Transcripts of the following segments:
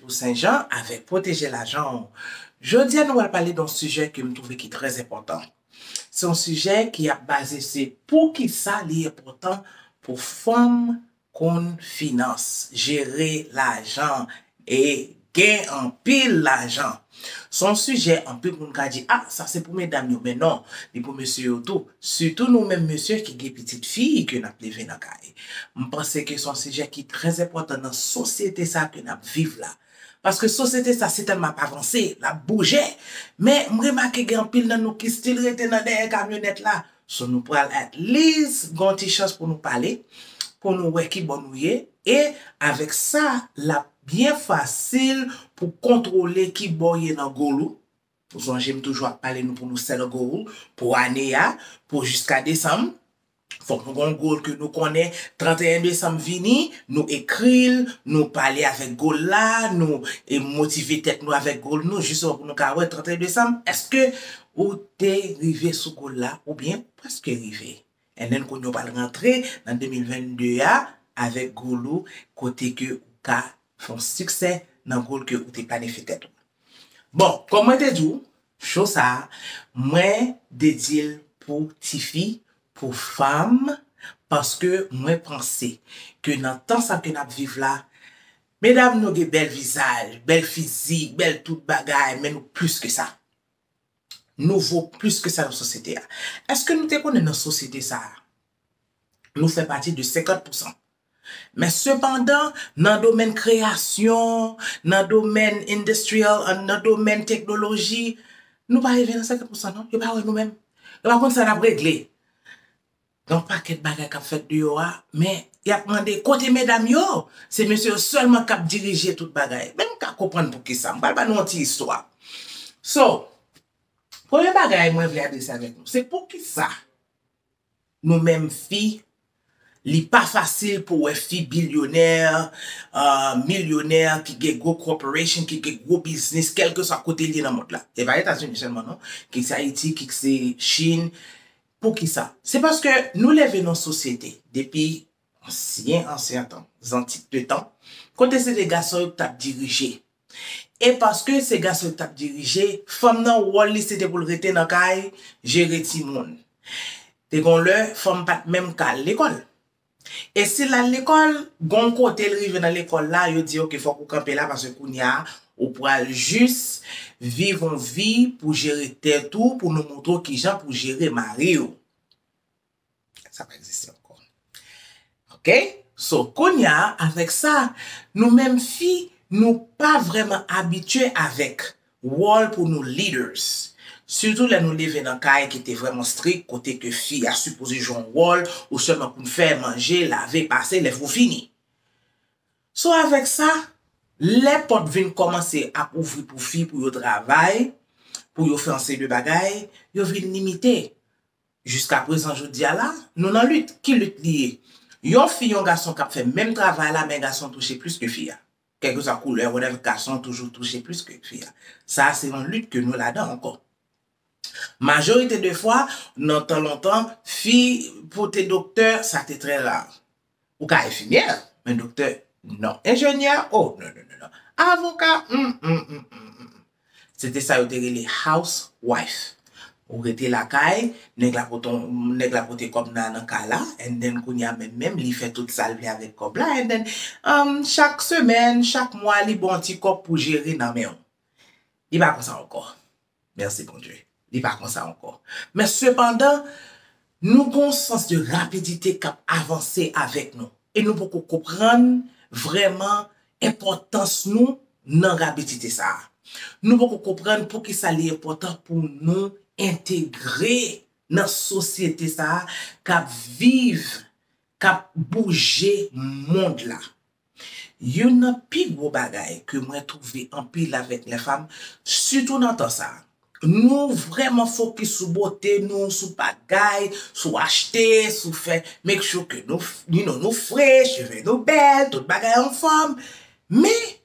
Pou Sen Jan avèk pwoteje lajan w. Jodi a nou pral pale don sijè ke m twouve ki trè enpòtan. Se yon sijè ki ap baze se poukisa li enpòtan pou fanm konn finans, jere lajan e gen anpil lajan. Se yon sijè anpil moun ka di, a sa se pou medam yo men non, li pou mesye yo tou, sitou nou menm mesye ki gen pitit fi ke n ap leve nan kay. M panse ke se yon sijè ki trè enpòtan nan sosyete sa ke n ap viv la. Paske sosyete sa se tèlman ap avanse, l ap bouje, men m remake gen anpil nan nou ki stil rete nan dèyè kamyonèt la, So nou pral at least gen yon ti chans pou nou pale, pou nou wè ki bò nou ye, e avèk sa l ap byen fasil pou kontwole ki bò w ye nan goal ou, ou sonje m toujou ap pale nou pou nou set a goal pou ane a, pou jiska desanm, fòk nou gen yon goal ke nou konnen 31 desanm vini, nou ekri l, nou pale avèk goal la, nou motive tèt nou avèk goal nou jisman pou nou ka wè 31 desanm èske Ou te rive sou gol la oubyen preske rive. NN kounye w pral rantre nan 2022 a avèk gol ou kote ke ou ka fè yon siksè nan gol ke ou te planifye tèt ou. Bon, kòm mwen te di w, show sa a mwen dedye l pou tifi, pou fanm paske mwen panse ke nan tan sa ke n ap viv la, medam nou gen bèl vizaj, bèl fizik, bèl tout bagay men nou plis ke sa. nou vo plis ke sa nan sosyete a. Eske nou te konnen nan sosyete sa a, nou fè pati de 50 pousan. Men sepandan, nan domèn kreyasyon, nan domèn industrial, nan domèn teknoloji, nou pa rive nan 50 pousan non. Yo pa wè nou menm. Yo pa konn sa n ap regle. Yon pakèt bagay kap fèt deyò a, men yap mande kote medam yo? Se mesye yo sèlman kap dirije tout bagay. Men nou ka konprann poukisa. M pral ba nou yon ti istwa. So, premye bagay mwen vle adrese avèk nou, se poukisa nou menm fi, li pa fasil pou wè fi bilyonè, milyonè, ki gen gwo corporation, ki gen gwo biznis, kèlkeswa kote li ye nan mond la. Se pa Etazini sèlman non, kit se Ayiti, kit se Chine, Poukisa? Se paske nou leve nan sosyete, depi ansyen ansyen tan, zantik de tan, kote se te gason yo ki t ap dirije. E paske se gason yo ki t ap dirije, fanm nan wòl li se te pou l rete nan kay, jere timoun. Te gen yon lè, fanm pa t menm ka al lekòl. E si l al lekòl, gen yon kote l rive nan lekòl la, yo di ok fòk ou kanpe la paske kounya ou pral jis viv yon vi pou jere tèt ou, pou nou montre w kijan pou jere mari w. Sa pa egziste ankò. Ok, so kounya avèk sa, nou menm fi nou pa vrèman abitye avèk Wòl pou nou leaders. Sitou lè nou leve nan kay ki te vrèman strik kote ke fi a sipoze jwe yon wòl ou sèlman pou n fè, manje, lave, pase, lèv pou fini. So avèk sa, lè pòt vin kòmanse ap ouvri pou fi pou yo travay, pou yo fè yon seri de bagay, yo vin limite. Jiskaprezan jodi a la, nou nan lit. Ki lit li ye? Yon fi, yon gason k ap fè menm travay la men gason touche plis ke fi a. Kèlkeswa koulè, whatever, gason toujou touche plis ke fi a. Sa a se yon lit ke nou ladan ankò. Majorite de fwa, nan tan lontan, fi pou te doktè, sa te trè ra. Ou ka enfimyè, men doktè, non. Enjenyè, oh, non, non, non, non. Avoka, hum, hum, hum, hum, hum, hum. Se te sa yo te rele house wife. Ou rete lakay, nèg la pote yon, nèg la pote kòb nan nan kay la and then kounye a menm menm li fè tout sa l vle avèk kòb la and then umm chak semèn, chak mwa li ba w yon ti kòb pou jere nan men w. Li pa konsa ankò. Mèsi Bondye. Li pa konsa ankò. Men sepandan, nou gen yon sans de rapidite k ap avanse avèk nou, e nou poko konprann vrèman enpòtans nou nan rabidite sa a. Nou poko konprann poukisa li enpòtan pou nou entegre nan sosyete sa a k ap viv, k ap bouje mond la. Youn nan pi gwo bagay ke mwen twouve anpil avèk lè fam, sitou nan tan sa a. Nou vrèman fokis sou bote nou, sou bagay, sou achte, sou fè make sure ke nou, you know, nou fre, cheve nou bèl, tout bagay anfòm. Men!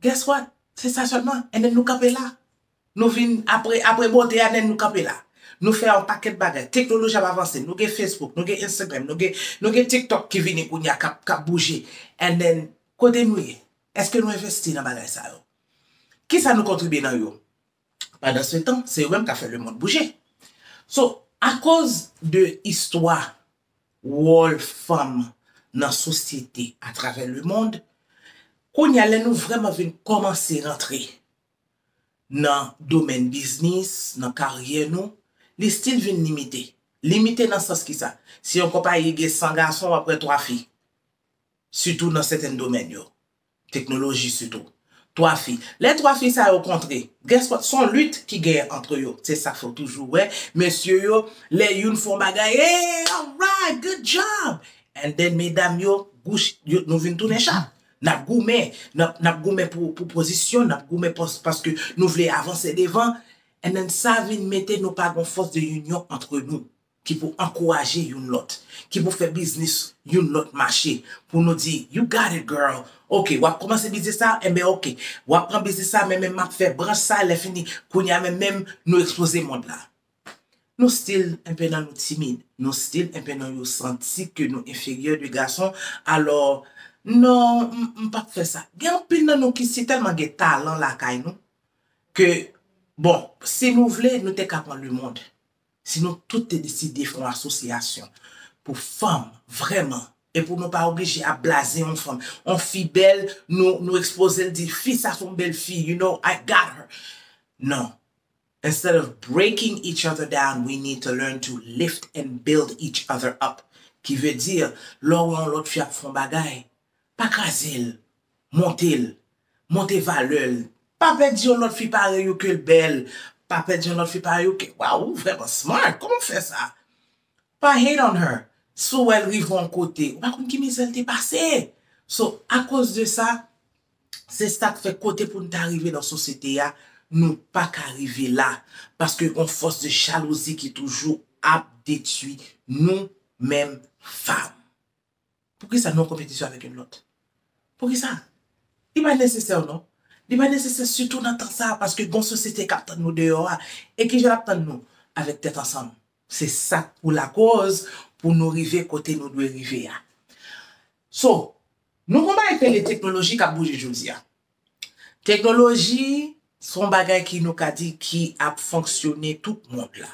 Guess what? Se sa sèlman. E nen nou kanpe la. Nou vin, apre, apre bote a, nen nou kanpe la. Nou fè yon pakèt bagay. Teknoloji ap avanse. Nou gen Facebook, nou gen Instagram, nou gen, nou gen TikTok ki vini kounye a, k ap, k ap bouje. And then, kote nou ye? Èske nou envesti nan bagay sa yo? Kisa nou kontribye nan yo? Pandan se tan, se yo menm kap fè le mond bouje. So, akoz de istwa wòl fanm nan sosyete atravè le mond, kounye a lè nou vrèman vin kòmanse rantre nan domèn biznis, nan karyè nou, li stil vin limite. Limite nan sans ki sa? Si yon konpayi gen 100 gason, wap wè 3 fi. Sitou nan sèten domèn yo. Teknoloji sitou. Twa fi. Lè twa fi sa yo kontre, guess what, s on lit ki genyen antre yo. Se sa k fè w toujou wè mesye yo, lè youn fè yon bagay, Hey! Alright! Good job! And then medam yo, bouch, yo, nou vin tounen chat. N ap goumen. N ap, n ap goumen pou, pou pozisyon, n ap goumen pòs, paske nou vle avanse devan. And then sa vin mete nou pa gen yon fòs de inyon antre nou. ki pou ankouraje youn lòt, ki pou fè biznis youn lòt mache, pou nou di, you got it girl, ok wap kòmanse biznis sa, enben ok, wap pran biznis sa men menm map fè branch sa, lè fini, kounya menm menm nou ekspoze mond la. Nou stil enpe nan nou timid, nou stil enpe nan yo santi ke nou enferyè de gason, alò non m m pap fè sa. Gen anpil nan nou ki si tèlman gen talan lakay nou, ke bon si nou vle nou te ka pran lemond, Si nou tout te deside fè yon asosyasyon pou fanm vrèman e pou nou pa oblije ap blaze yon fanm, yon fi bèl nou ekspoze l di fi sa son bèl fi you know I got her non instead of breaking each other down we need to learn to lift and build each other up ki vle di lè w wè yon lòt fi ap fè yon bagay pa kraze l Monte l. Monte valè l. Pa pèdi yon lòt fi parèy ou ke l bèl. Pa pèdi yon lòt fi parèy ou ke Waww ou vrèman smart kòman w fè sa Pa hate on her si w wè l rive yon kote ou pa konn ki mizè l te pase So akoz de sa se sa k fè kote pou n ta rive nan sosyete a nou pa ka rive la paske gon fòs de jalouzi ki toujou ap detui nou menm fanm. Poukisa nou an konpetisyon avèk youn lòt? Poukisa? Li pa nesesè non. Li pa nesesè sitou nan tan sa a paske gon sosyete k ap tann nou deyò a. E ki jan l ap tann nou? Avèk tèt ansanm. Se sa k pou lakòz pou nou rive kote nou dwe rive a. So, nou gon bagay k rele teknoloji k ap bouje jodi a. Teknoloji s on bagay ki nou ka di ki ap fonksyone tout mond la.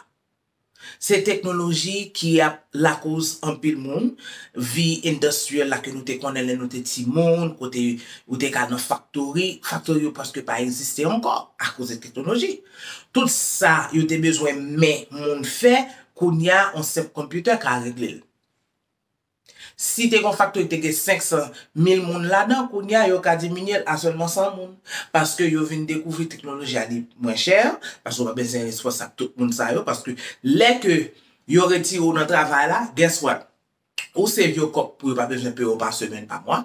Se teknoloji ki ap lakoz anpil moun, vi endostriyèl la ke nou te konnen lè nou te timoun, kote ou te ka al nan faktori, faktori yo prèske pa egziste ankò akoz de teknoloji. Tout sa yo te bezwen men moun fè, kounya yon senp konpyoutè ka regle l. Si te gen yon faktori ki te gen 500 mil moun ladan, kounye a yo ka diminye l a sèlman 100 moun. Paske yo vin dekouvri teknoloji a li mwen chè, paske ou pa bezwen responsak tout moun sa yo, paske lè ke yo retire ou nan travay la, guess what? Ou se vye kòb pou yo pa bezwen peye w pa semèn, pa mwa.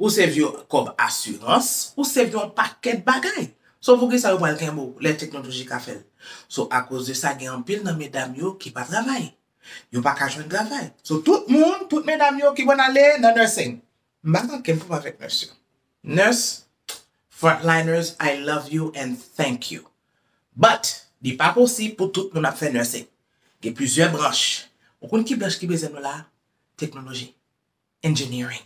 Ou se vye kòb asirans, ou se vye yon pakèt bagay. So poukisa yo pral kenbe w lè teknoloji ka fè l? So akoz de sa gen anpil nan medam yo ki pa travay. yo pa ka jwenn travay. So tout moun, tout medam yo ki konn ale nan nursing. M pa manke m pou m avèk nurse yo. Nurse, frontliners I love you and thank you. But, li pa posib pou tout moun ap fè nursing. Gen plizyè branch. Ou konn ki branch ki bezwen nou la a? Teknoloji. Engineering.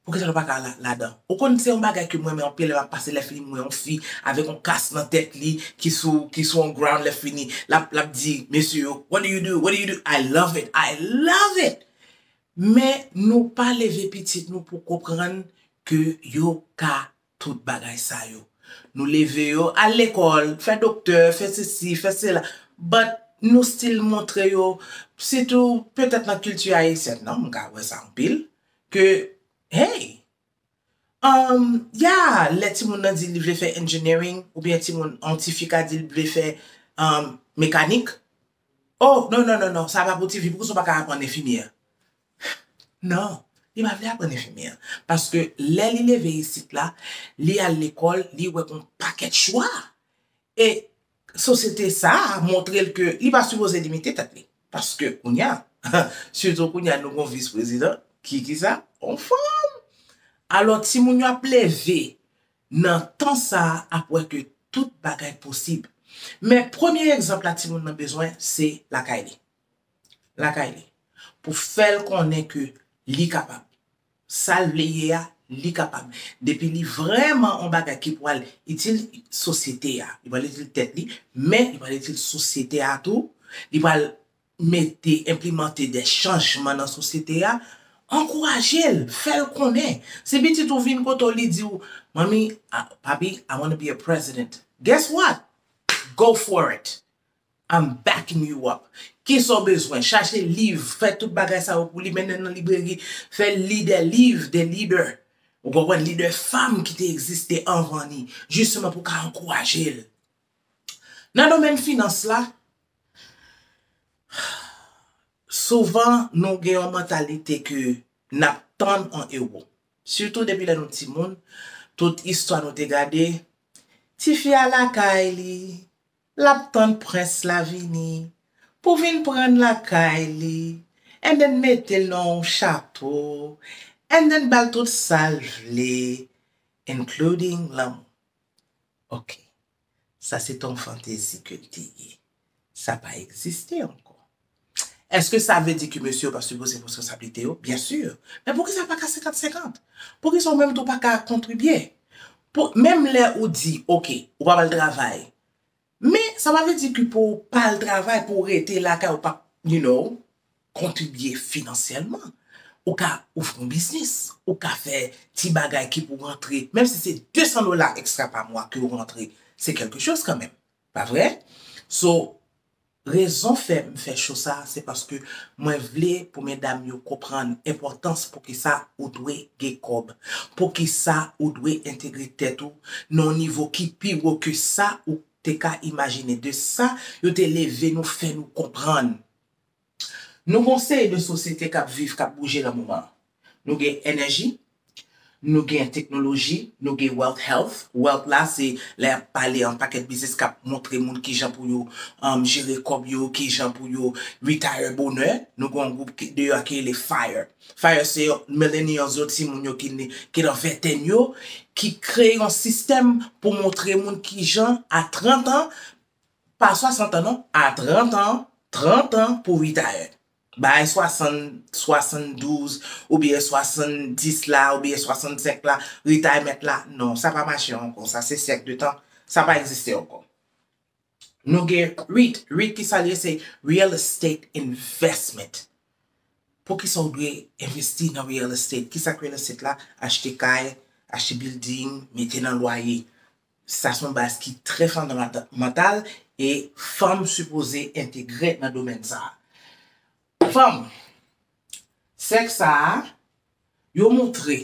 Poukisa nou pa ka al ladan? Ou konn se yon bagay ke m renmen anpil lè m ap pase lè fini m wè yon fi avèk yon kas nan tèt li ki sou ki sou yon ground lè fini l ap l ap di mesye yo what do you do what do you do I love it I love it men nou pa leve pitit nou pou konprann ke yo ka Tout bagay sa yo. Nou leve yo al lekòl, fè doktè, fè sesi, fè sela, but nou still montre yo, sitou petèt nan kilti ayisyèn nan, m ka wè sa anpil, ke hey! Umm, yeah, lè timoun nan di li vle fè engineering, oubyen timoun, yon ti fi ka di li vle fè mekanik, oh, non, non, non, non, sa pa pou ti fi, poukisa w pa ka aprann enfimyè? Non, li pa vle aprann enfimyè. Paske lè li leve isit la, li al lekòl, li wè gon pakèt chwa. E sosyete sa a montre l ke li pa sipoze limite tèt li. Paske kounya, sitou kounya nou gon vis prezidan ki ki sa? On fanm! Alò timoun yo ap leve nan tan sa a ap wè ke tout bagay posib. Men premye egzanp la timoun nan bezwen se lakay li. lakay li pou fèl konnen ke li kapab sal vle ye a li kapab depi li vrèman on bagay ki pwal itil sosyete a li pwal itil tèt li men li pwal itil sosyete a tou li pwal mete enplimante dè chanjman nan sosyete a ankourajel fèl konnen si pitit ou vin kote w li diw manmi papi I wanna be a president guess what go for it. I'm backing you up. Kisa w bezwen? Chache liv, fè tout bagay sa yo pou li, mennen l nan libreri, fè l li des livres, des leaders, ou konprann, lidè fanm ki te egziste anvan li, jisteman pou w ka ankouraje l. Nan domèn finans la, souvan nou gen yon mantalite ke n ap tann yon ewo. Sitou depi lè nou timoun, tout istwa nou te gade, Tifi a lakay li, Lap tann prens la vini pou vin prann lakay li and then metel nan on chato and then bal tout sal vle including lanmou ok sa se ton fantezi ke l te ye sa pa egziste ankò. Eske sa vle di ke mesye yo pa sipoze pran reskonsablite yo? Byen sur! Men poukisa pa ka 50 50? Poukisa ou menm tou pa ka kontribye? Pou, menm lè ou di, ok, ou pa pral travay, men sa pa vle di ke pou ou pa al travay, pou ou rete lakay ou pa you know, kontribye finansyèlman. Ou ka ouvri yon biznis, ou ka fè ti bagay ki pou rantre, menm si se 200 dola ekstra pa mwa ke ou rantre, se kèlke choz kanmenm. Pa vre? So, rezon fè m fè show sa a se paske mwen vle pou medam yo konprann enpòtans poukisa ou dwe gen kòb, poukisa ou dwe entegre tèt ou nan yon nivo ki pi wo ke sa ou te ka imajine, de sa yo te leve nou fè nou konprann. Nou gon seri de sosyete kap viv kap bouje nan moman an. Nou gen enèji, nou gen teknoloji, nou gen wealth health, wealth la se lè yap pale an pakèt biznis kap montre moun kijan pou yo jere kòb yo, kijan pou yo retire bonè. Nou gen yon gwoup deyò a ki rele fire. Fire se millennials yo, timoun yo ki nan ventèn yo ki kreye yon sistèm pou montre moun kijan a 30 an Pa 60 an non, a 30 an, 30 an pou retire. Bay 60, 72 oubyen 70 la oubyen 65 la, retirement la, non, sa pa mache ankò, sa se syèk de tan, sa pa egziste ankò. Nou gen REIT, REIT ki sa l ye, se Real Estate Investment. Poukisa ou dwe envesti nan real estate? Ki sa k real estate la? Achte kay, achte building, mete nan lwaye. Sa son baz ki trè fondamantal e fanm sipoze entegre nan domèn sa. Fanm, sèk sa a, yo montre,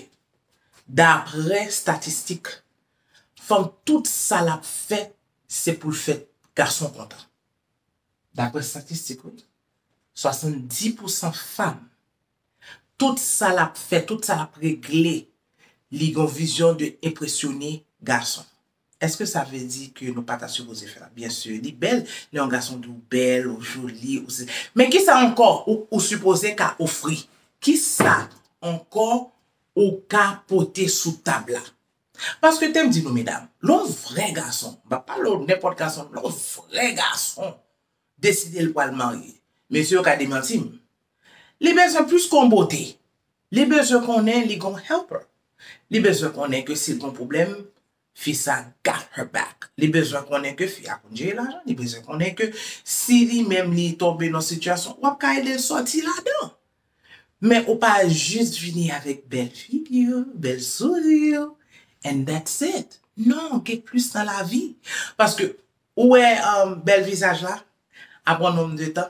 daprè statistik, fanm tout sa lap fè se poul fè gason kontan. Daprè statistik wi, 70 pousan fanm Tout sa lap fè, tout sa lap regle, li gon vizyon de enpresyone gason. Eske sa vle di ke nou pa ta sipoze fè la? Byen sur, li bèl lè yon gason di w bèl, ou joli, ou sesi. Men kisa ankò ou sipoze ka ofri? Kisa ankò ou ka pote sou tab la? Paske tem di nou medam, lè yon vrè gason, m pa pale w nenpòt gason, lè yon vrè gason. deside l pral marye. Mesye yo ka demanti m. Li bezwen plis ke yon bote. Li bezwen konnen li gen yon helper. Li bezwen konnen ke si l gen yon pwoblèm, fi sa got her back. Li bezwen konnen ke fi a konn jere lajan. Li bezwen konnen ke si li menm li tonbe nan yon sitiyasyon, w ap ka ede l sòti ladan. Men ou pa jis vini avèk bèl figi w, bèl souri w and that's it. Non, gen plis nan lavi. Paske Ou wè bèl vizaj la? Apre yon nonm de tan,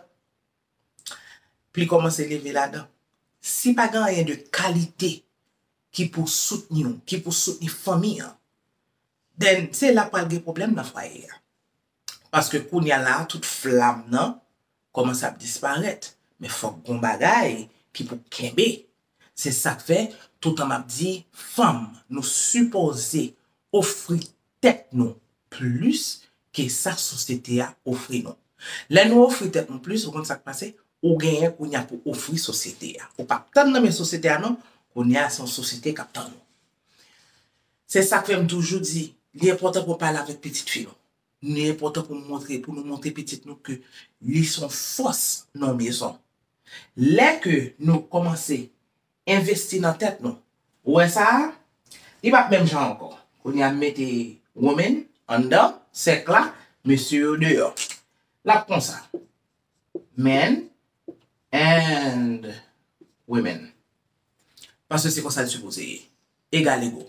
pli kòmanse leve ladan. Si pa gen anyen de kalite ki pou soutni w, ki pou soutni fanmi an, then se la pral gen pwoblèm nan fwaye a. Paske kounya la a tout flam nan kòmanse ap disparèt men fòk gon bagay ki pou kenbe se sak fè toutan map di fanm nou sipoze ofri tèt nou plis ke sa sosyete a ofri nou lè nou ofri tèt nou plis ou konn sak pase ou genyen kounya pou ofri sosyete a ou pap tann nan men sosyete a non kounya se yon sosyete kap tann ou se sak fè m toujou di li enpòtan pou pale avèk pitit fi nou Li enpòtan pou montre, pou nou montre pitit nou ke li son fòs nan mezon. Lè ke nou kòmanse envesti nan tèt nou, ou wè sa a, li pap menm jan ankò. Kounye a m mete Romain anndan sèk la, mesye yo deyò. Lap konsa, Men and women. Paske se konsa li sipoze ye. Egalego.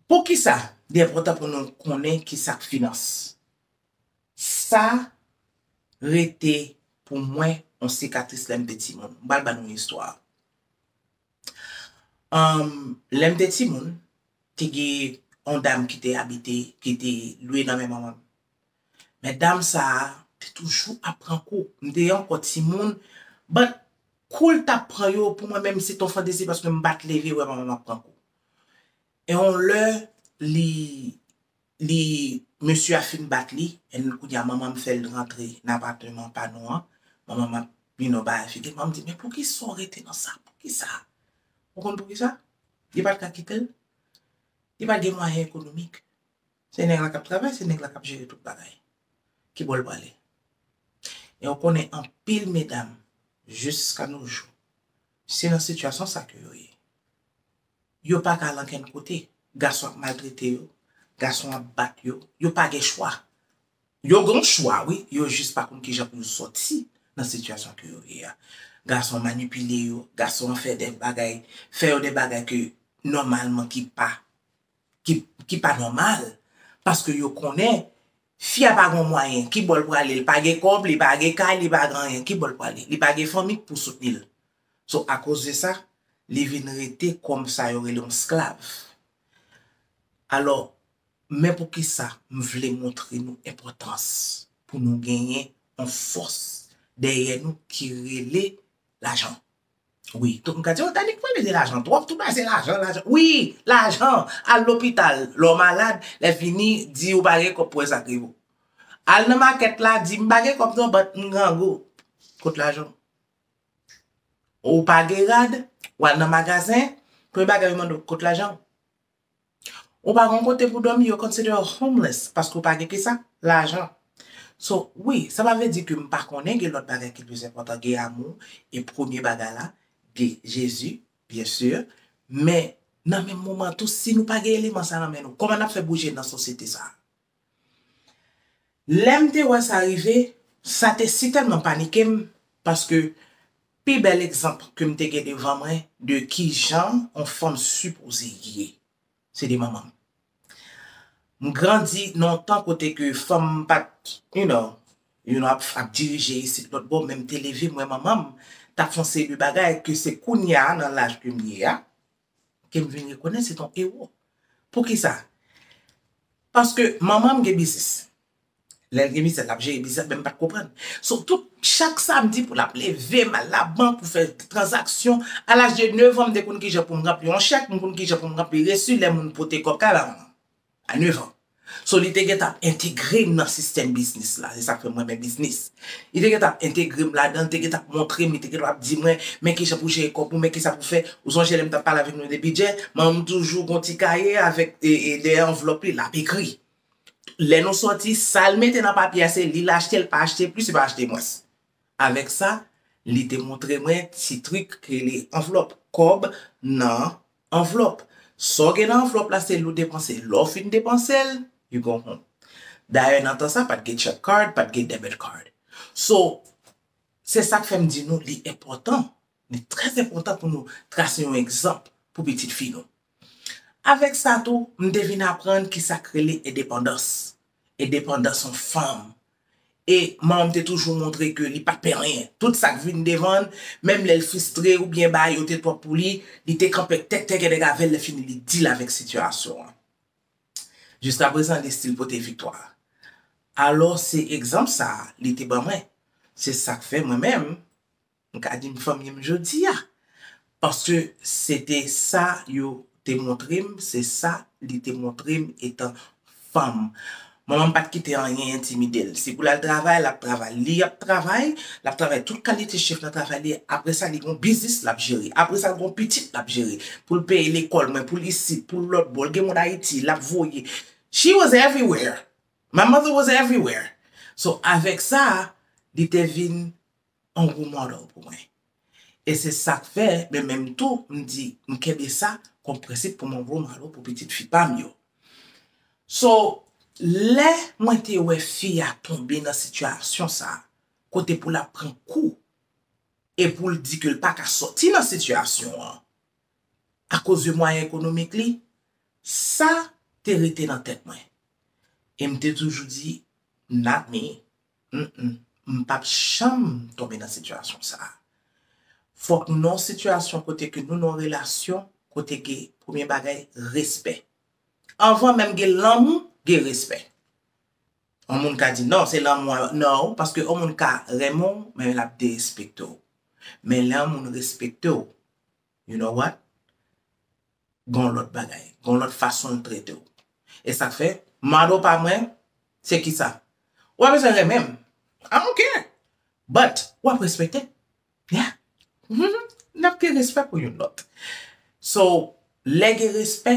Poukisa li enpòtan pou nou konnen ki sa k finans? Sa rete pou mwen yon sikatris lè m te timoun. M pral ba nou yon istwa. Lè m te timoun, te gen yon dam ki te abite, ki te lwe nan men manman m. Men dam sa a te toujou ap pran kou. M te ankò timoun but kou l t ap pran yo pou mwen menm se t yon fantezi paske m pa t leve wè manman m ap pran kou. E on lè li li mesye a fin bat li en kounye a manman m fè l rantre nan apateman pa nou an manman m ap you know bay figi l manman m di men poukisa w rete nan sa poukisa ou konn poukisa li pa t ka kite l li pa t gen mwayen ekonomik se nèg la k ap travay se nèg la k ap jere tout bagay ki bò l prale e ou konnen anpil medam jiska nojou Se nan sitiyasyon sa ke yo ye. Yo pa ka al ankenn kote. Gason ap maltrete yo, gason ap bat yo, yo pa gen chwa. Yo gen chwa wi, yo jis pa konn kijan pou yo sòti nan sitiyasyon ke yo ye a. Gason manipile yo, gason an fè dè bagay, fè yo dè bagay ke nòmalman ki pa, ki pa nòmal, paske yo konnen Fi a pa gon mwayen, ki bò l prale? L pa gen kòb, li pa gen kay, li pa gen anyen, ki bò l prale? Li pa gen fanmi k pou soutni l. So, akoz de sa, li vin rete kòm sa yo rele yon sklav. Alò, men poukisa m vle montre nou enpòtans pou nou genyen yon fòs dèyè nou ki rele lajan. Wi tout moun ka di oh Danick pale de lajan twòp tout bagay se lajan lajan wi lajan al lopital lè w malad lè fini di ou pa gen kòb pou wè sak rive w al nan makèt la di m pa gen kòb non but m grangou kot lajan w ou pa gen rad wal nan magazen premye bagay yo mande w kot lajan w. Ou pa gon kote pou domi yo consider ou homeless paske ou pa gen kisa? Lajan. So wi sa pa vle di ke m pa konnen gen lòt bagay ki plis enpòtan gen amou e premye bagay la gen Jezi byen sur men nan menm moman tou si nou pa gen eleman sa nan men nou kòman n ap fè bouje nan sosyete sa? Lè m te wè sa rive, sa te sitèlman panike m paske pi bèl egzanp ke m te gen devan mwen de kijan on fanm sipoze ye, se te manman m. M grandi nan on tan kote ke fanm pa t, you know, you know, ap dirije isit lòt bò men m te leve m wè manman m t ap fon seri de bagay ke se kounya nan laj ke m ye a, ke m vin rekonèt se t on ewo. Poukisa? Paske manman m gen biznis. Lè l gen biznis l ap jere biznis la men m pa t konprann. So tout chak samdi pou l ap leve m al labank pou fè tranzaksyon. A laj de nevan m te konn kijan pou m ranpli yon chèk, m konn kijan pou m ranpli resi lè moun pote kòb kay la. A nèf an. So li te gentan ap entegre m nan sistèm biznis la. Se sa k fè m renmen biznis. Li te gentan ap entegre m ladan l, li te gentan ap montre m, li te gentan ap di mwen, men kijan pou jere kòb ou, men kisa pou fè. Ou sonje lè m t ap pale avèk nou de bidjè? Manman m toujou gon ti kaye avèk dèyè anvlòp li, l ap ekri. Lè nou soti, sa l mete nan papye a se li l achte, l pa achte plis, li pa achte mwens. Avèk sa, li te montre mwen ti trik k rele anvlòp kòb nan anvlòp. Sa w gen nan anvlòp la se li w depanse. Lè w fin depanse l, you go home. Dayè nan tan sa pat gen check card, pat gen debit card. So, se sa k fè m di nou li enpòtan, li trè enpòtan pou nou trase yon egzanp pou pitit fi nou. Avèk sa tou, m te vin aprann ki sa k rele endepandans. Endepandans yon fanm e Mom te toujou montre ke li pat pè anyen. Tout sak vin devan l, menm lè l fristre oubyen bagay yo te twòp pou li, li te kanpe ak tèt tègèdèg avè l, lèfini li deal avèk sitiyasyon an. Jiskaprezan li stil pote viktwa. Alò se egzanp sa li te ban mwen. Se sak fè mwen menm, M ka di m fanmi m jodi a. Paske se te sa yo te montre m, se sa li te montre m etan fanm. Manman m pa t kite anyen entimide l. Si pou l al travay, l ap travay. Li ap travay, l ap travay tout kalite chif nan travay li. Apre sa, li gen yon biznis l ap jere. Apre sa, l gen yon pitit l ap jere. Pou l peye lekòl mwen, pou l isit, pou l lòtbò. L gen moun Ayiti, l ap voye. She was everywhere. My mother was everywhere. So, avèk sa, li te vin on role model pou mwen. E se sak fè men menm tou m di m kenbe sa kon prensip pou m on role model pou pitit fi pa m yo. So, lè mwen te wè fi a tonbe nan sitiyasyon sa, kote pou l ap pran kou e pou l di ke l pa ka sòti nan sitiyasyon an akoz de mwayen ekonomik li, sa te rete nan tèt mwen. E m te toujou di, not me. Humm m pap janm tonbe nan sitiyasyon sa. Fok nou nan sitiyasyon kote ke nou nan yon relasyon kote gen premye bagay respè. Anvan menm gen lanmou gen respè. Yon moun ka di non se lanmou a nan ou paske yon moun ka renmen w men lap derespekte w. Men lè yon moun respekte w You know what? Gen yon lòt bagay. Gen yon lòt fason l trete w. E sa k fè, mado pa mwen, se kisa? Ou pa bezwen renmen m. I don't care. But, w ap respekte m. Yeah. N ap gen respè pou youn lòt. So, lè gen respè,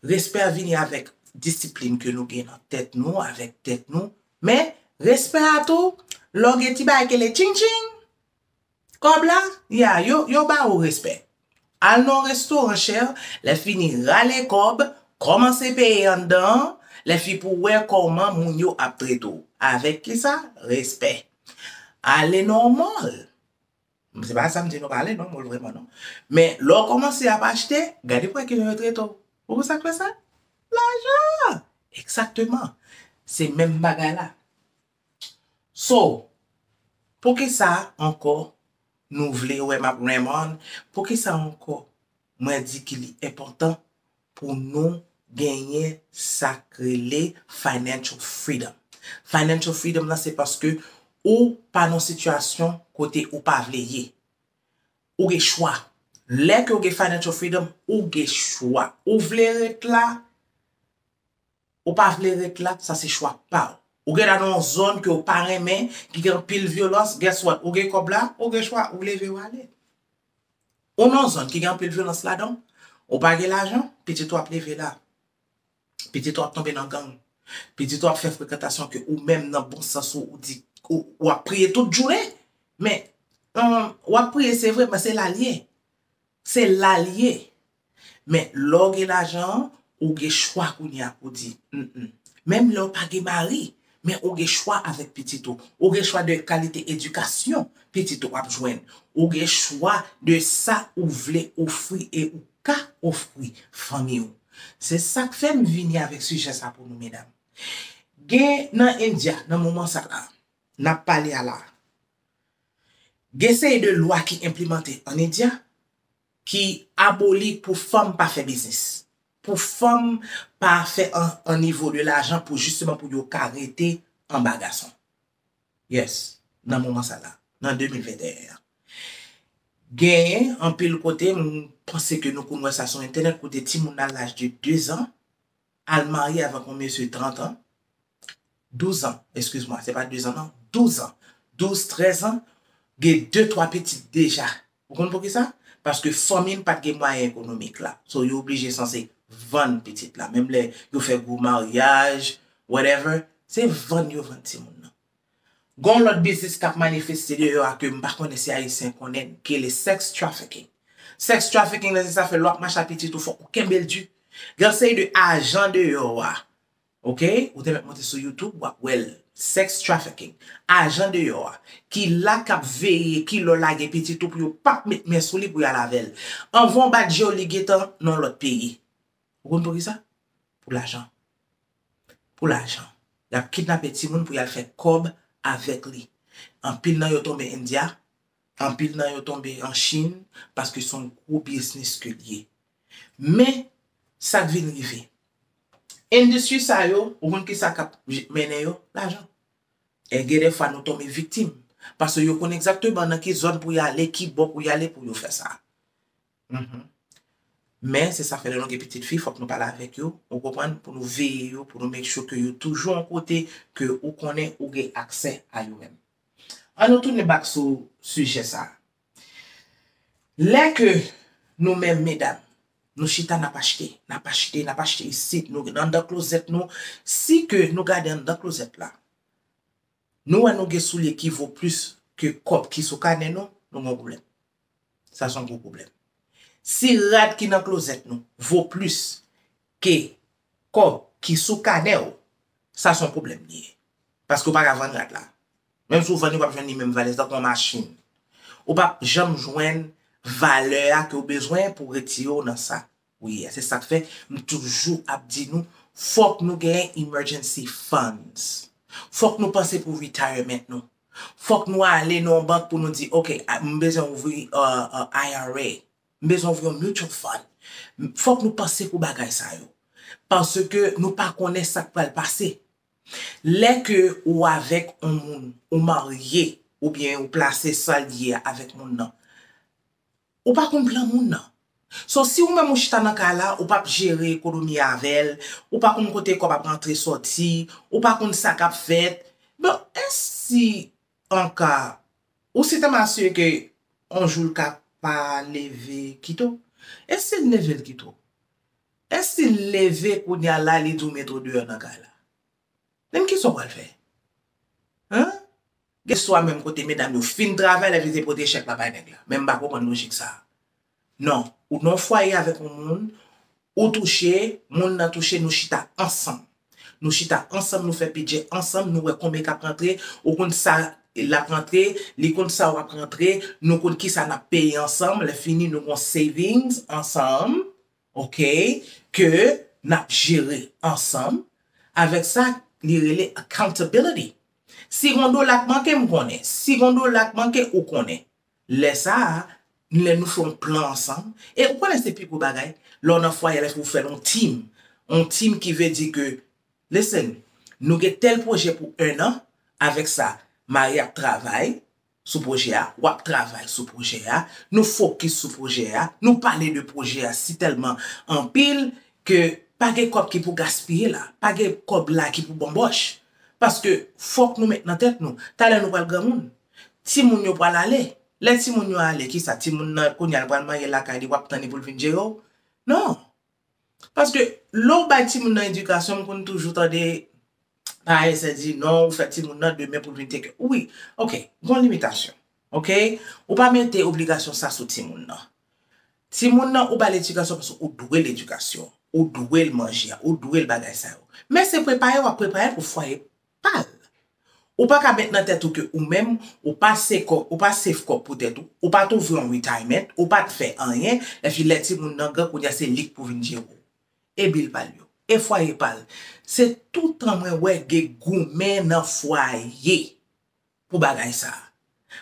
respè a vini avèk disiplin ke nou gen nan tèt nou, avèk tèt nou. Men, respè a tou, lè w gen ti bagay ki rele tching tching, Kòb la? Ya, yo, yo ba ou respè. Al nan yon restoran chè, lè fini rale kòb, kòmanse peye anndan an, lè fi pou wè kòman moun yo ap trete w. Avèk kisa? Respè. Ale nan yon mòl. Se pa sa m di nou pa ale nan yon mòl vrèman non. Men, lè w kòmanse ap achte, gade pou wè kijan yo trete w. Ou konn sa k fè sa? Lajan! Egzakteman. Se menm bagay la. So, poukisa ankò nou vle wè m ap renmn, poukisa ankò mwen di ki li enpòtan pou nou genyen sa k rele financial freedom. Financial freedom lan se paske ou pa nan sitiyasyon kote ou pa vle ye. Ou gen chwa. Lè ke ou gen financial freedom, ou gen chwa. Ou vle ret la? Ou pa vle ret la, sa se chwa paw. Ou gentan nan yon zòn ke ou pa renmen, ki gen anpil vyolans, guess what, ou gen kòb la, ou gen chwa, ou leve ou ale. Ou nan yon zòn ki gen anpil vyolans ladan, ou pa gen lajan, pitit ou ap leve la. Pitit ou ap tonbe nan gang. Pitit ou ap fè frekantasyon ke ou menm nan bon sans ou, ou di, ou ap priye tout jounen, men, ou ap priye se vre, men se la l ye. Se la l ye. Men, lè w gen lajan an, ou gen chwa kounye a pou di, N. Menm lè w pa gen mari, men ou gen chwa avèk pitit ou. Ou gen chwa de kalite edikasyon pitit ou ap jwenn. Ou gen chwa de sa ou vle ofri e ou ka ofri fanmi ou. Se sa k fè m vini avèk sijè sa pou nou, medam. Gen nan India, nan moman sa la, n ap pale a la, gen seri de lwa ki enplimante an India, ki aboli pou fanm pa fè biznis, pou fanm pa fè an nivo de lajan pou jisteman pou yo ka rete anba gason. Yes, nan moman sa la, nan 2021 an. Genyen anpil kote, m panse ke nou konn wè sa sou entènèt, kote timoun nan laj de 2 zan, al marye avèk yon mesye 30 ans, 12 ans, excuse moi, se pa 2 ans non, 12 ans, 12, 13 ans, gen 2, 3 pitit deja. Ou konn poukisa? Paske fanmi l pa t gen mwayen ekonomik la. So yo oblije sanse vann pitit la. Menm lè yo fè gwo maryaj, whatever, se vann yo vann timoun nan. Gonw lòt biznis kap manifeste deyò a kem pa konnen si ayisyen konnen l ki rele sex trafficking. Sex trafficking lan se sa fè lè wap mache a pitit ou fòk ou kenbel di. Gen yon seri de ajan deyò a ok ou te mèt monte sou youtube wap wèl sex trafficking ajan deyò a ki la kap veye ki lè w lage pitit ou pou yo pap met men sou li pou yal avèl. Anvan w bat jew li gentan nan yon lòt peyi. Ou konn poukisa? pou lajan pou lajan yap kidnape timoun pou yal fè kòb avèk li anpil nan yo tonbe india anpil nan yo tonbe an chine paske son gwo biznis ke li ye men sak vin rive industri sa yo ou konn kisa kap mennen yo lajan e gen dèfwa nou tonbe viktim paske yo konn egzakteman nan ki zòn pou yale kibò pou yale pou yo fè sa Mph Men se sa fè lè nou gen pitit fi fòk nou pale avèk yo ou konprann pou nou veye yo pou nou make sure ke yo toujou yon kote ke ou konnen ou gen aksè a yo menm An nou tounen back sou sijè sa Lè ke nou menm medam nou chita nap achte nap achte nap achte isit nou anndan klozèt nou si ke nou gade anndan klozèt la Nou wè nou gen soulye ki vo plis ke kòb ki sou kanè nou, nou gon pwoblèm. Sa son gwo pwoblèm. Si rad ki nan klozèt nou vo plis ke kòb ki sou kanè w, sa son pwoblèm li ye. Paske w pa ka vann rad la. Menm si w vann li w pap jwenn li menm valè, se tankou yon machin. Ou pap janm jwenn valè a ke w bezwen pou retire w nan sa. Wi yeah se sak fè m toujou ap di nou fòk nou gen emergency funds. Fòk nou panse pou retirement nou. Fòk nou ale nan yon bank pou nou di ok m bezwen ouvri IRA, m bezwen ouvri yon mutual fund. Fòk nou panse pou bagay sa yo. Paske nou pa konnen sak pral pase. Lè ke ou avèk yon moun, ou marye oubyen ou plase sal ye a avèk moun nan. Ou pa konn plan moun nan. So si ou menm ou chita nan kay la, ou pap jere ekonomi avèl, ou pa konn kote kòb ap antre sòti, ou pa konn sa kap fèt, bon e si anka ou se tèlman asire ke on jou l ka pa leve kite w? E si l leve l kite w? E si l leve kounya la li di w mete w deyò nan kay la? Menm kisa w pral fè? Huh? Gen swa menm kote medam yo fin travay lè li te pote chèk la bay nèg la. Men m pa konprann lojik sa. Non, ou nan yon fwaye avèk yon moun, ou touche, moun nan touche nou chita ansanm. Nou chita ansanm nou fè bidjè ansanm, nou wè konbyen kap rantre, ou konn sa lap rantre, li konn sa wap rantre, nou konn kisa nap peye ansanm, lè fini nou gon savings ansanm, Ok ke nap jere ansanm avèk sa li rele accountability si gon dola k manke m konnen si gon dola k manke ou konnen lè sa lè nou fè yon plan ansanm e ou konnen se pi gwo bagay lè w nan fwaye lè pou fèl yon team yon team ki vle di ke listen nou gen tèl pwojè pou 1 an avèk sa mari ap travay sou pwojè a, w ap travay sou pwojè a, nou fokis sou pwojè a, nou pale de pwojè a si tèlman anpil ke pa gen kòb ki pou gaspiye la, pa gen kòb la ki pou banbòch. Paske fòk nou met nan tèt nou, talè nou pral granmoun, timoun yo pral ale, lè timoun yo ale kisa timoun nan kounye a l pral mare lakay li w ap tann li pou l vin jere w? Non! Paske lè ou bay timoun nan edikasyon m konn toujou tande parèy sa di non ou fè timoun nan demen pou l vin tekè wi ok gon limitasyon ok ou pa mete obligasyon sa sou timoun nan timoun nan ou ba l edikasyon paske ou dwe l edikasyon ou dwe l manje a ou dwe l bagay sa yo men se prepare w ap prepare l pou fwaye pa l. Ou pa ka met nan tèt ou ke ou menm, ou pa se kò, ou pa save kòb pou tèt ou, ou pa t ouvri yon retirement, ou pa t fè anyen, epi lè timoun nan gran kounye a se li k pou vin jere w. E bil pa l yo? E fwaye pa l? Se toutan mwen wè gen goumen nan fwaye. pou bagay sa a.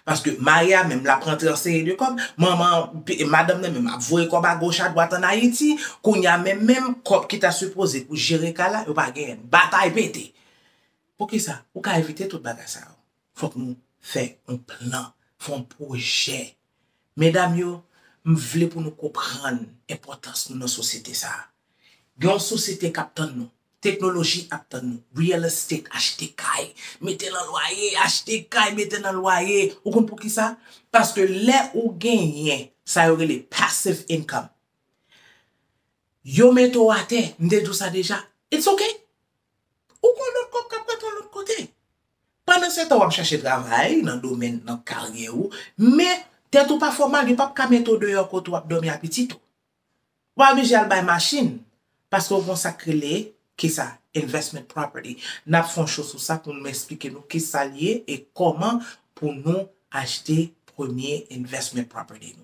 Paske mari a menm l ap rantre an seri de kòb, manman, madanm nan menm ap voye kòb a goch a dwat an Ayiti, kounye a menm menm kòb ki ta sipoze pou jere kay la, yo pa genyen l. Batay pete! Poukisa? Pou ka evite tout bagay sa yo, fòk nou fè yon plan, fè yon pwojè. Medam yo, m vle pou nou konprann enpòtans nou nan sosyete sa a. Gen yon sosyete k ap tann nou. Teknoloji ap tann nou. Real estate, achte kay, mete nan lwaye, achte kay, mete nan lwaye. Ou konn pou ki sa? Paske lè ou genyen sa yo rele passive income, Yo mete w atè, m te di w sa deja. It's ok. Ou gen yon lòt kòb k ap bat w yon lòt kote. Pandansetan w ap chache travay nan domèn, nan karyè ou, men tèt ou pa fè w mal, yo p ap ka mete w deyò kote w ap dòmi a pitit ou. Ou pa oblije al bay machin, paske ou gen yon sa k rele, kisa? Investment property. N ap fè yon show sou sa pou m esplike nou kisa l ye e kòman pou nou achte premye investment property nou.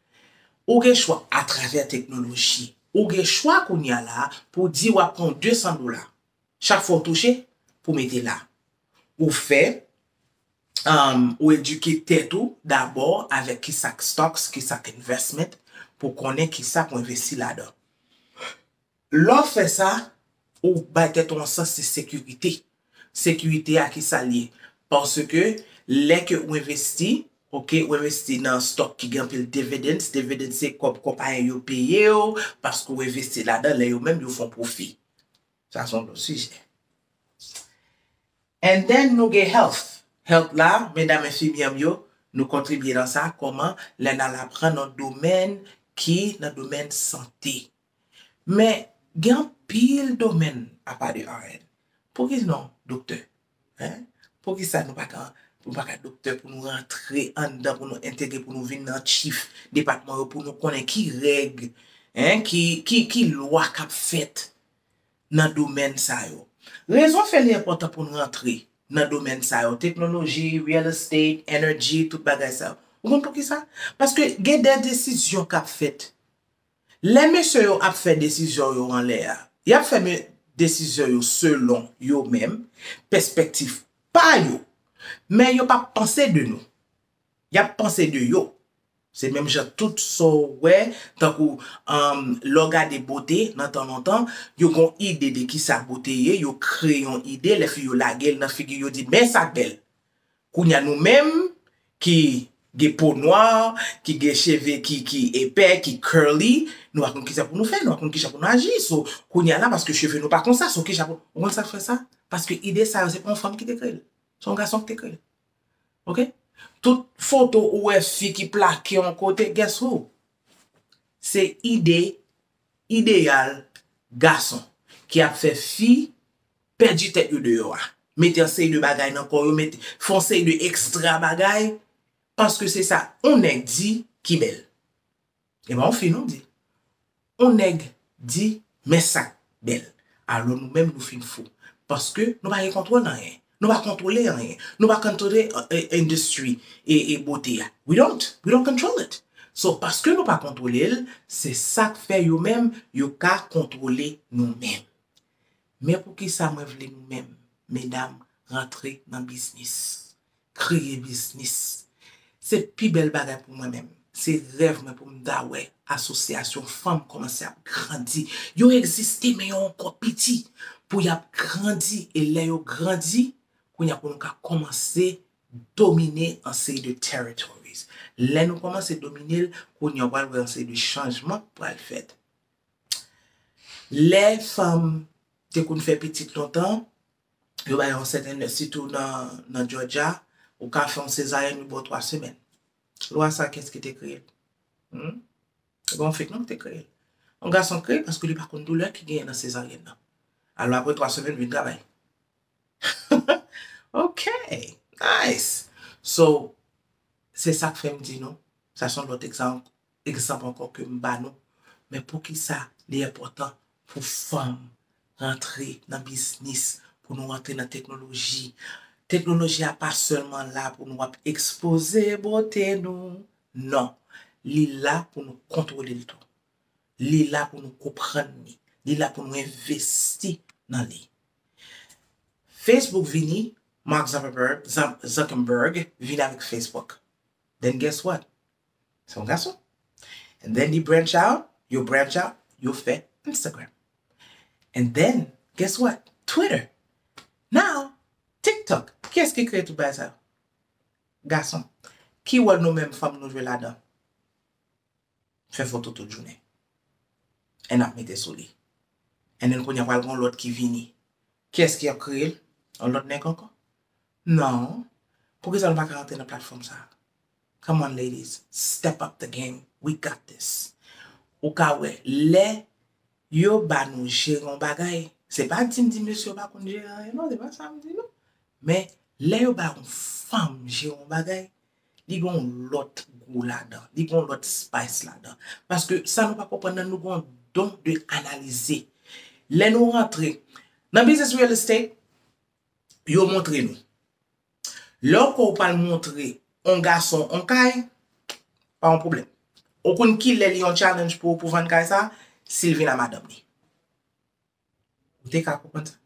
Ou gen chwa atravè teknoloji. Ou gen chwa kounye a la pou w di w ap pran 200 dola chak fwa w touche pou w mete la. Ou fè, ou edike tèt ou dabò avèk ki sa k stocks, ki sa k investment pou w konnen ki sa pou w envesti ladan. Lè w fè sa, ou bay tèt ou yon sans de sekirite. Sekirite a ki sa l ye? Paske lè ke ou envesti, ok, ou envesti nan stock ki gen anpil dividends, dividends se kòb konpayi yo peye w paske ou envesti ladan lè yo menm yo fè yon pwofi. Sa se yon lòt sijè. And then nou gen health. Health la, medam enfimyè m yo, nou kontribye nan sa kòman lè n al aprann yon domèn ki nan domèn sante. Men, gen anpil domèn apa de RN. Pouki non doktè? Hein? Poukisa nou pa ka nou pa ka doktè pou nou rantre anndan pou nou entegre pou nou vin nan chif depatman yo pou nou konnen ki règ hein ki ki ki lwa k ap fèt nan domèn sa yo. Rezon fè li enpòtan pou n rantre nan domèn sa yo, teknoloji, real estate, energy, tout bagay sa yo. Ou konn poukisa? Paske gen dè desizyon k ap fèt. Lè mesye yo ap fè desizyon yo anlè a, y ap fè desizyon yo selon yo menm, pèspèktif pa yo, men yo p ap panse de nou. Y ap panse de yo. Se menm jan tout sa w wè, tankou lè w gade bote nan tan lontan, yo gen yon ide de kisa bote ye, yo kreye yon ide, lè fi yo lage l nan figi yo di men sa k bèl. Kounya nou menm ki gen po nwa, ki gen cheve ki ki epè, ki curly, nou pa konn kisa pou nou fè, nou pa konn kijan pou nou aji. So, kounya la paske cheve nou pa konsa, so kijan pou nou, ou konn sak fè sa? Paske ide sa yo se pa yon fanm ki te kreye l. Se yon gason ki te kreye l. Ok? Tout foto ou wè fi ki plake yon kote, guess who? Se ide, ideyal gason ki ap fè fi pèdi tèt yo deyò a, mete yon seri de bagay nan kò yo, mete, fè yon seri de ekstra bagay, paske se sa yon nèg di ki bèl. E pa yon fi non m di. Yon nèg di men sa k bèl. Alò nou menm nou fin fou. Paske nou pa gen kontwòl nan anyen. Nou pa kontwole anyen. Nou pa kontwole industry e bote a. We don't. We don't control it. So paske nou pa kontwole l, se sa k fè yo menm yo ka kontwole nou menm. Men poukisa mwen vle nou menm medam rantre nan biznis. Kreye biznis. Se pi bèl bagay pou mwen menm. Se rèv mwen pou m ta wè asosyasyon fanm kòmanse ap grandi. Yo egziste men yo ankò piti. Pou y ap grandi e lè yo grandi, kounye a pou nou ka kòmanse domine an seri de territories. Lè nou kòmanse domine l, kounye a w pral wè an seri de chanjman k pral fèt. Lè fanm te konn fè pitit lontan, yo bay yon sèten lè, sitou nan Jòjya, ou ka fè yon sezaryen yo ba w 3 semèn. Lwa sa kiyès ki te kreye l? Hum? Se pa yon fake non ki te kreye l. Yon gason kreye l paske li pa konn doulè ki genyen nan sezaryèn nan. Alò aprè 3 semèn vin travay. Ok! Nice! So, se sa k fè m di nou, sa se yon lòt egzanp egzanp ankò ke m ba nou, men poukisa li enpòtan pou fanm rantre nan biznis, pou nou rantre nan teknoloji. Teknoloji a pa sèlman la pou nou ap ekspoze bote nou, non, li la pou nou kontwole l tou. Li la pou nou konprann li, li la pou nou envesti nan li. Facebook vini, Mark Zuckerberg vini avèk Facebook. Then guess what? Se yon gason. And then li branch out, yo branch out, yo fè Instagram. And then, guess what? Twitter. Now, TikTok. Kiyès ki kreye tout bagay sa yo? Gason. Ki wòl nou menm fanm nou jwe ladan? Fè foto tout jounen. And ap mete sou li. And then kounye a pral gen yon lòt ki vini. Kiyès ki ap kreye l? Yon lòt nèg ankò? Non. Poukisa nou pa ka rantre nan platfòm sa a? Come on ladies step up the game we got this ou ka wè lè yo ba nou jere yon bagay se pa dim di mesye yo pa konn jere anyen non se pa sam di non men lè yo ba yon fanm jere yon bagay li gen yon lòt gou ladan li gen yon lòt spice ladan paske sa nou pa konprann nan nou gen yon don de analize lè nou rantre nan biznis real estate yo montre nou Lè w kwè w pral montre on gason on kay, pa on pwoblèm. Ou konn kilè li on challenge pou ou pou vann kay sa? Si l vin a madanm li. Ou te ka konprann sa.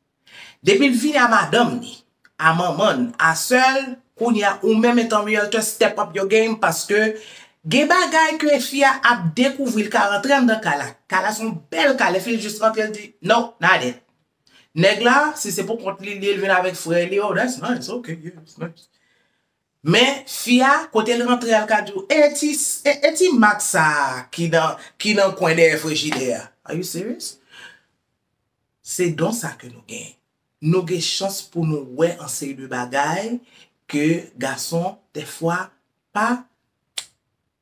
Depi l vin a madanm li, a manman l, a sè l, kounye a ou menm etan realtor step up your game paske gen bagay ke fi a ap dekouvri l ka rantre anndan kay la. Kay la son bèl kay, lè fi l jis rantre l di, No, not it. Nèg la si se pou kont li lil vin avèk frè li oh that's nice ok yeah that's nice men fi a kotel rantre al ka diw e ti e ti mak sa ki nan ki nan kwen dèyè frejidè a are you serious se don sa ke nou gen nou gen chans pou nou wè an seri de bagay ke gason dèfwa pa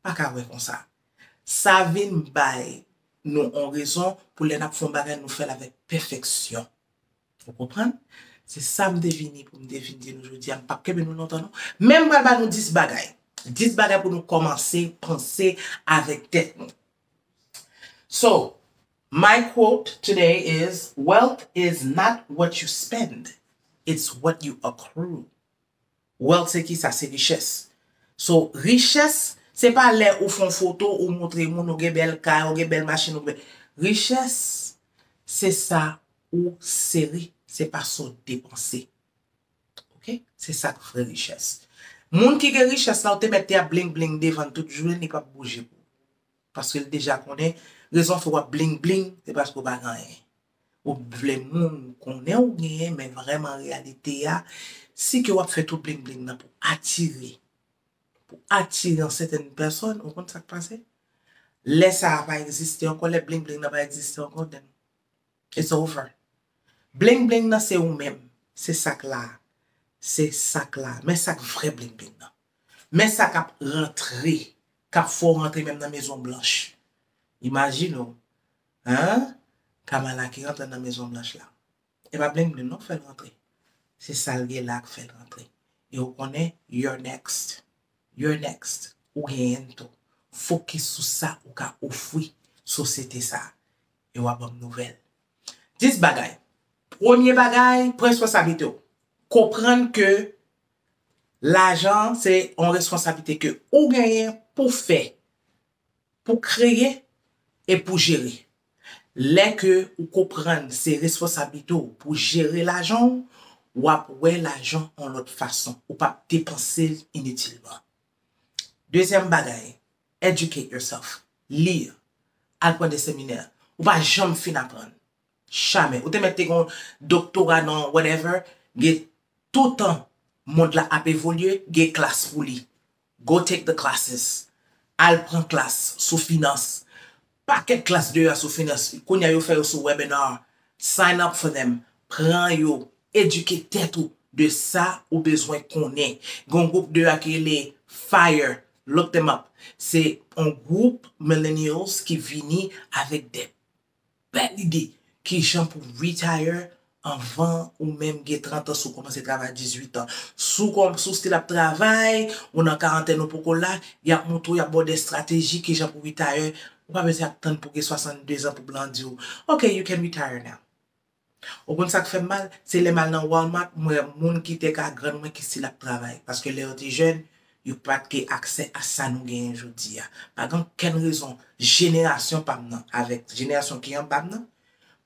pa ka wè konsa. Sa vin bay nou on rezon pou lè n ap fè on bagay nou fè l avèk pèfèksyon. Ou konprann? Se sa m te vini pou m te vin di nou jodi a. M pap kenbe nou lontan non. Men m pral ba nou 10 bagay. 10 bagay pou nou kòmanse panse avèk tèt nou. So, my quote today is, Wealth is not what you spend, it's what you accrue. Wealth se kisa? Se richès. So, richès se pa lè ou fon foto ou moutre moun ou gen bèl kay, ou gen bèl machin, ou gen. Richès se sa ou sere, se pa sa w depanse. Ok? Se sa k vrè richès. Moun ki gen richès la ou te mèt te ap bling bling devan l tout jounen li pap bouje pou ou. Paske l deja konnen rezon fè w ap bling bling se paske w pa gen anyen. Ou p vle moun konnen ou genyen men vrèman reyalite a si ke wap fè tout bling bling nan pou atire pou atire yon sètèn pèsòn ou konn sak pase lè sa a pa egziste ankò lè bling bling nan pa egziste ankò then it's over bling bling nan se ou menm se sak la a se sak la a men sak vrè bling bling nan men sa kap rantre kap fè w rantre menm nan mezon blanch imajine w Haa Kamala ki rantre nan mezon blanch la e pa bling bling non k fèl rantre se sal gen la k fèl rantre e ou konnen you're next you're next ou genyenn tou fokis sou sa ou ka ofwi sosyete sa e wap banm nouvèl 10 bagay premye bagay pran responsablite w konprann ke lajan se yon responsablite ke ou genyen pou fè Pou kreye e pou jere. Lè ke ou konprann se responsablite w pou jere lajan w, w ap wè lajan yon lòt fason, ou pa p depanse l initilman. Dezyèm bagay, educate yourself, li, al pran de seminè. Ou pa janm fin aprann. Jamè. Ou te mèt te gen yon doktora nan whatever, gen toutan mond la ap evolye, gen klas pou li. Go take the classes Al pran klas sou finans Pakèt klas deyò a sou finans Kounye a yo fè yo sou webinar Sign up for them Pran yo Edike tèt ou de sa ou bezwen konnen Gen yon gwoup deyò a ki rele Fire Look them up Se yon gwoup millennials ki vini avèk de Bèl ide! Kijan pou w retire anvan ou menm gen 30 ans ou komanse travay a 18 ans. Si w still ap travay, ou nan karantèn ou poko la, yap montre w, yap ba w des strategies kijan pou retire, ou pa bezwen ap tann pou w gen 62 ans pou blan di w, ok you can retire now. Ou konn sak fèm mal se lèm al nan Walmart mwen moun ki te ka grann mwen ki sil ap travay paske lè yo te jèn yo pat ge aksè a sa nou genyen jodia pa gen okenn rezon jenerasyon pam nan avèk jenerasyon ki anbam nan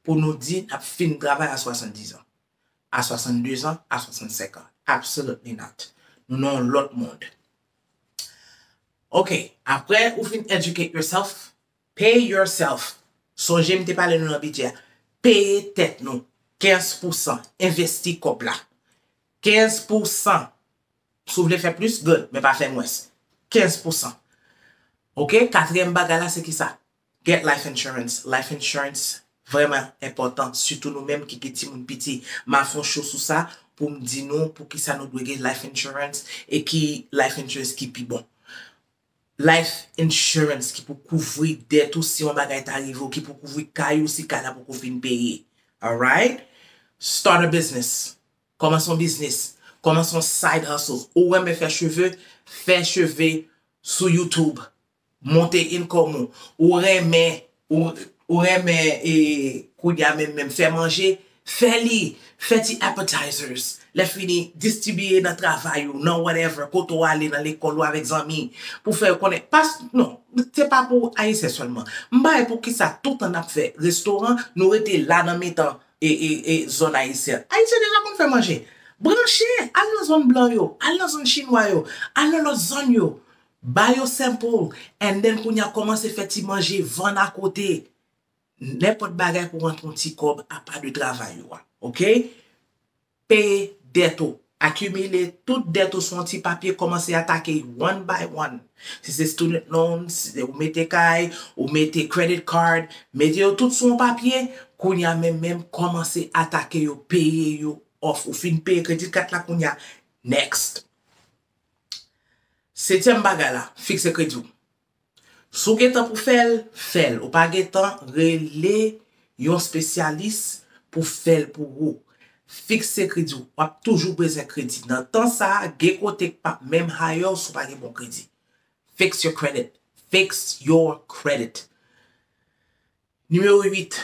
pou nou di nap fin travay a 70 ans a 62 ans a 65 ans absolutely not nou nan yon lòt mond ok aprè ou fin educate yourself Pay yourself. Sonje m te pale nou nan bidjè a. Peye tèt nou 15 pou san. Envesti kòb la. 15 pou san. Si w vle fè plis, good, men pa fè mwens. 15 pou san. Ok, katriyèm bagay la se kisa? Get life insurance. Life insurance vrèman enpòtan, sitou nou menm ki gen timoun piti. M a fè yon show sou sa pou m di nou poukisa nou dwe gen life insurance e ki life insurance ki pi bon. Life insurance ki pou kouvri dèt ou si yon bagay ta rive w ki pou kouvri kay ou si kay la poko fin peye alright start a business kòmanse yon biznis kòmanse yon side hustle ou renmen fè cheve fè cheve sou youtube monte income ou ou renmen Ou renmen e kounya menm menm fè manje, fè li, fè ti appetizers, lèfini distibiye nan travay ou, nan whatever, kote ou ale, nan lekòl ou avèk zanmi, pou fè yo konnen, pas, non, se pa pou ayisyen sèlman, m pa wè poukisa toutan nap fè restoran, nou rete la nan mitan zòn ayisyen, ayisyen deja konn fè manje, branche, al nan zòn blan yo, al nan zòn chinwa yo, al nan lòt zòn yo, Ba yo sample and then kounya komanse fè ti manje vann a kote. Nenpòt bagay pou rantre yon ti kòb apa de travay ou a. Ok? Peye dèt ou. Akimile tout dèt ou sou yon ti papye komanse atake yo one by one. Si se student loan, si se ou mete kay, ou mete credit card, mete yo tout sou yon papye, kounya menm menm komanse atake yo peye yo off. Ou fin peye credit kat la kounya next. Setyèm bagay la, fikse kredi w. Si w gen tan pou fè l, fè l. Ou pa gen tan, rele yon spesyalis pou fè l pou ou. Fikse kredi w. W ap toujou bezwen kredi. Nan tan sa a, gen kote k pap menm hire w si w pa gen bon kredi. Fix your credit. Fix your credit. Nimewo 8,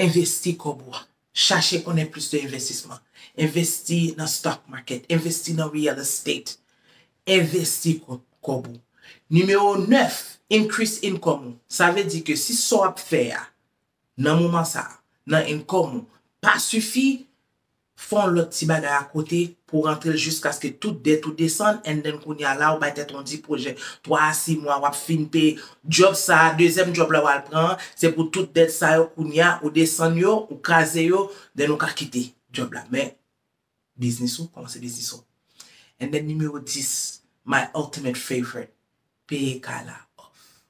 Envesti kòb ou a. Chache konnen plis de envestisman. Envesti nan stock market, envesti nan real estate. Envesti kòb ou. Nimewo 9, Increase income ou. Sa vle di ke si sa w ap fè a nan moman sa a, nan income ou, pa sifi, Fon lot ti bagay a kote pou rantrel jiskaske tout dèt ou desann and then kounya la ou bay tèt ou di pwojè 3 a 6 mwa wap fin peye djob sa a dezyèm djob la wal pran an se pou tout dèt sa yo kounya ou desann yo ou kraze yo then ou ka kite djob la men biznis ou komanse biznis ou and then nimewo 10 my ultimate favorite peye kay la off.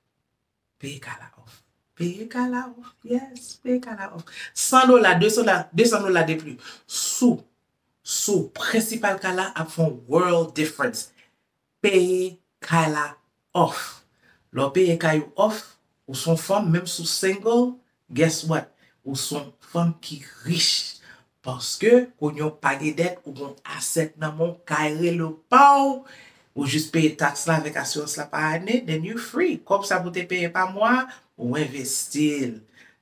Peye kala off. Peye kala off. Yes, peye kala off. 100 dola, 200 dola de pli sou sou prensipal kala ap fè yon world difference. Peye kala off. Lè w peye kay ou off, ou se yon fanm, menm si w single, Guess what ou son fanm ki rich paske kounye w pa gen dèt ou gon asset nan men w kay rele w pa w ou jis peye tax la avèk asirans la pa ane then you free kòb sa pou te peye pa mwa a ou envesti l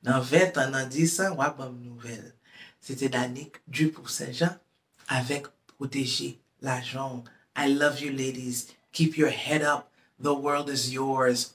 nan 20 tan nan 10 an wap banm nouvèl se te Danick Dupoux Saint-Jean avèk pwoteje lajan w I love you ladies keep your head up the world is yours